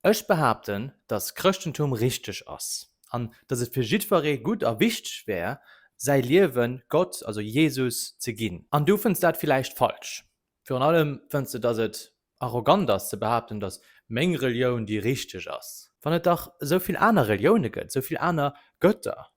Ech behaapten, datt Chrëschtentum richteg ass an datt et fir jiddweree gutt a wichteg wär, säi Liewe Gott, also Jesus, ze ginn. An du fënns dat villäicht falsch. Virun allem fënns de, datt et arrogant ass ze behaapten, datt meng Relioun déi richteg ass, wann et dach esou vill aner Relioune gëtt, esou vill aner Götter,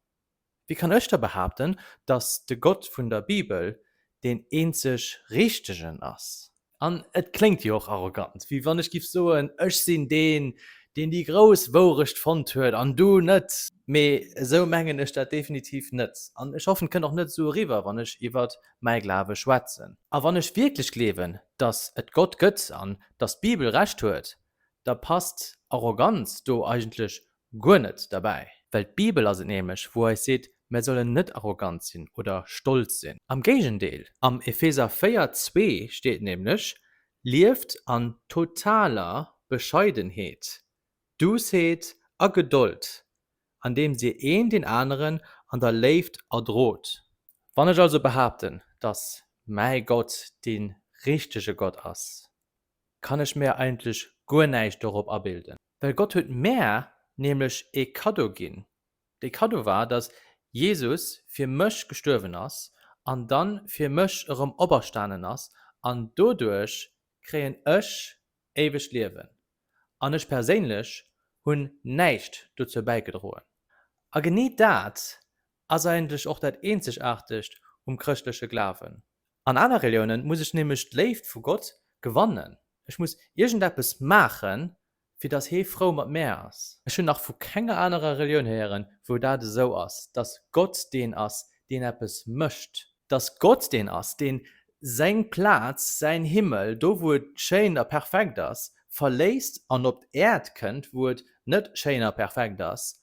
Wéi kann ech da behaapten, datt de Gott vun der Bibel deen eenzeg Richtegen ass? An et kléngt jo och arrogant, wéi wann ech giff soen, Ech sinn deen, deen déi grouss Wourecht fonnt huet, an du net! Mee esou mengen ech dat definitiv net. An ech hoffen, et kënnt och net esou eriwwer, wann ech iwwer mäi Glawe schwätzen. A wann ech wierklech gleewen, datt et Gott gëtt an datt d'Bibel Recht huet, da passt Arroganz do eigentlech Guer net derbäi. Well d'Bibel ass et nämlech, wou eis seet, mär sollen net arrogant sinn oder stolz sinn. Am Géigendeel, am Epheser 4, 2 steet nämlech, Lieft an totaler Bescheidenheet, Duussheet a Gedold, andeems dir een deen aneren an der Léift erdrot. Wann ech also behaapten, dass mäi Gott dee richtege Gott ass, kann ech mär eigentlech guer näischt dorop abilden. Well Gott huet mär nämlech ee Kaddo ginn. Dee Kaddo war, datt Jesus fir mech gestuerwen ass an dann fir mech erëm operstanen ass, an doduerch kréien ech éiwegt Liewen. An ech perséinlech hunn näischt dozou bäigedroen. A genee dat Ass eigentlech och dat Eenzegaartegt um chrëschtleche Glawen. An aner Reliounen muss ech nämlech d'Léift vu Gott gewannen. Ech muss iergendeppes maachen, fir datt hee frou mat mär ass. Ech hunn nach vu kenger anerer Relioun héieren, wou dat esou ass, datt Gott deen ass, deen eppes mécht, datt Gott deen ass, deen seng Plaz, säin Himmel, do wou et schéin a perfekt ass, verléisst an op d'Äerd kënnt, wou et net schéin a perfekt ass,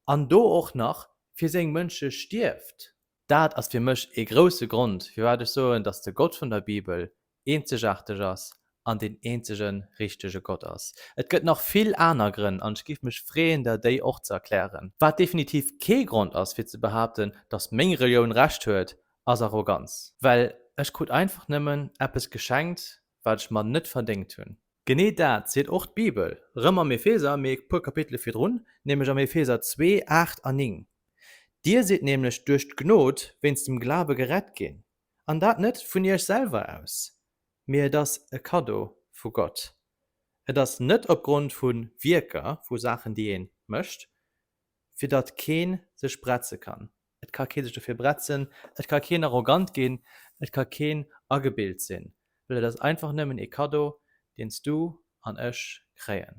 an do och nach Fir seng Mënsche stierft. Dat ass fir mech ee grousse Grond, firwat ech soen, dass de Gott vun der Bibel eenzegaarteg ass an deen eenzege richtege Gott ass. Et gëtt nach vill aner Grënn, an ech géif mech freeën, der déi och ze erklären. Wat definitiv kee Grond ass, fir ze behaapten, dass meng Relioun Recht huet, ass Arroganz. Well ech krut einfach nëmmen eppes geschenkt, wat ech mer net verdéngt hunn. Genee dat seet och d'Bibel, rëm am Epheser, mee e puer Kapitele virdrun, nämlech am Epheser 2, 8 a 9. Dir sidd nämlech duerch d'Gnod wéinst dem Glawe gerett ginn, an dat net vun iech selwer aus, mee et ass e Kaddo vu Gott. Et ass net opgrond vu Wierker, vu Saachen, déi ee mécht, fir datt kee sech bretze kann. Et ka kee sech dofir bretzen, et ka keen arrogant ginn, et ka keen agebilt sinn, well et ass einfach nëmmen ee Kaddo, deen s du an ech kréien.